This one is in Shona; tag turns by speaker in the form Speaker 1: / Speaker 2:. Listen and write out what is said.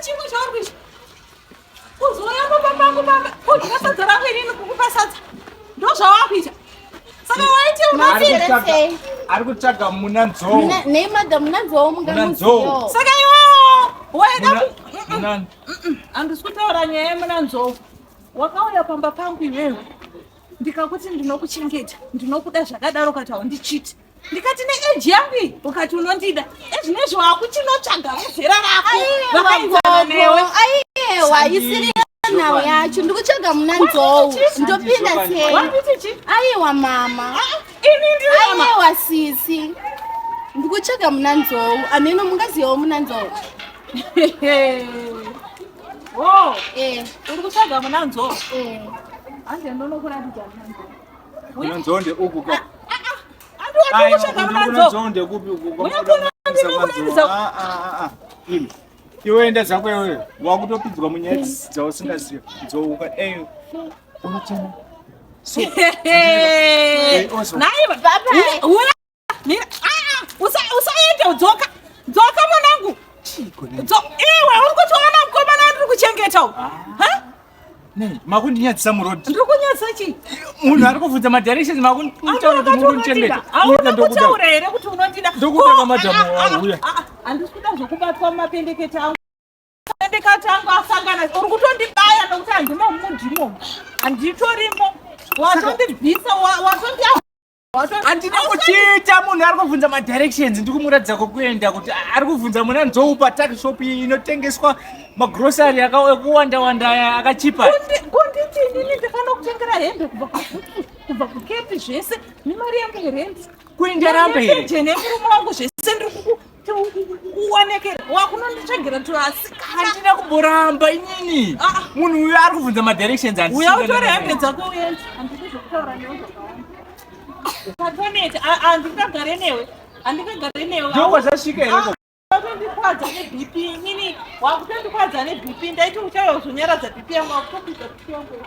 Speaker 1: Chimwe chauri kuita kuzouya pamba pangu pamba kudya sadza rangu inini kukupa sadza ndozvawakuita saka waiti unotii ari kutsvaga muna nzou nei madha muna nzou munganzou saka iwewo waida handisi kutaura nyaya yemuna nzou wakauya pamba pangu iwewe ndikakuti ndinokuchengeta ndinokuda zvakadaro ukati haundichiti ndikati neeji yangu iyi ukati unondida ezvino izvi wakuchinotsvaga vezera rako vakaenzana newe aiyewa isiri nhau yacho ndikutsvaga muna nzou ndopinda sei aiwa mama aiwa sisi ndikutsvaga muna nzou ameno mungazivawo muna nzou oh. eh. uri kutsvaga muna nzou eh. hanzi ndonokuratidza muna nzou Kuna nzonde uku ka. Ayo, kuna nzonde kupi uku. Kuna nzonde kupi uku. Ah, ah, ah. Imi. Iwe enda zako iwe. Wakutopidzwa munyaya dzausingaziva. Dzouka. Eyo. Eh. Unochema. So. Naiva, baba. mira aa usaende udzoka dzoka mwanangu iwe uri kutiona mukomana wandiri kuchengeta u ah. makundinyadzisa murod ndiri kunyadzisa chii munhu ari kuvhunza madirections makundichengeta auna kutaura here kuti unondida ndokutaka madhamu wauya handisi kuda zvokubatwa mumapendekete angu mapendekete angu asangana uri kutondibaya nokuti handimo mudimo handitorimo watondibvisa watondia handina kuchiita munhu ari kubvunza madirections ndi kumuratidza kwokuenda kuti ari kubvunza muna nzoupa takshop inotengeswa magrosary ekuwanda wanda aya akachipa kunditi inini ndikanokutengera hembe kubva kukepi zvese nemari yangu yerendi kuinda rambe here jenemurume wangu zvese ndiri uonekere wakunonditsvagira tuasikandina kumboramba inini ah, ah. munhu uyo ari kubvunza madirections uya utore hembe dzako uende handidi zvokutaura newe zvakawandatonete handingagare newe handingagare newe ndoko zvasvika here ah, wakutondikwadza nebp inini wakutondikwadza nebp ndaiti uchauya zonyaradza bp yangu wakutopidza bp yangu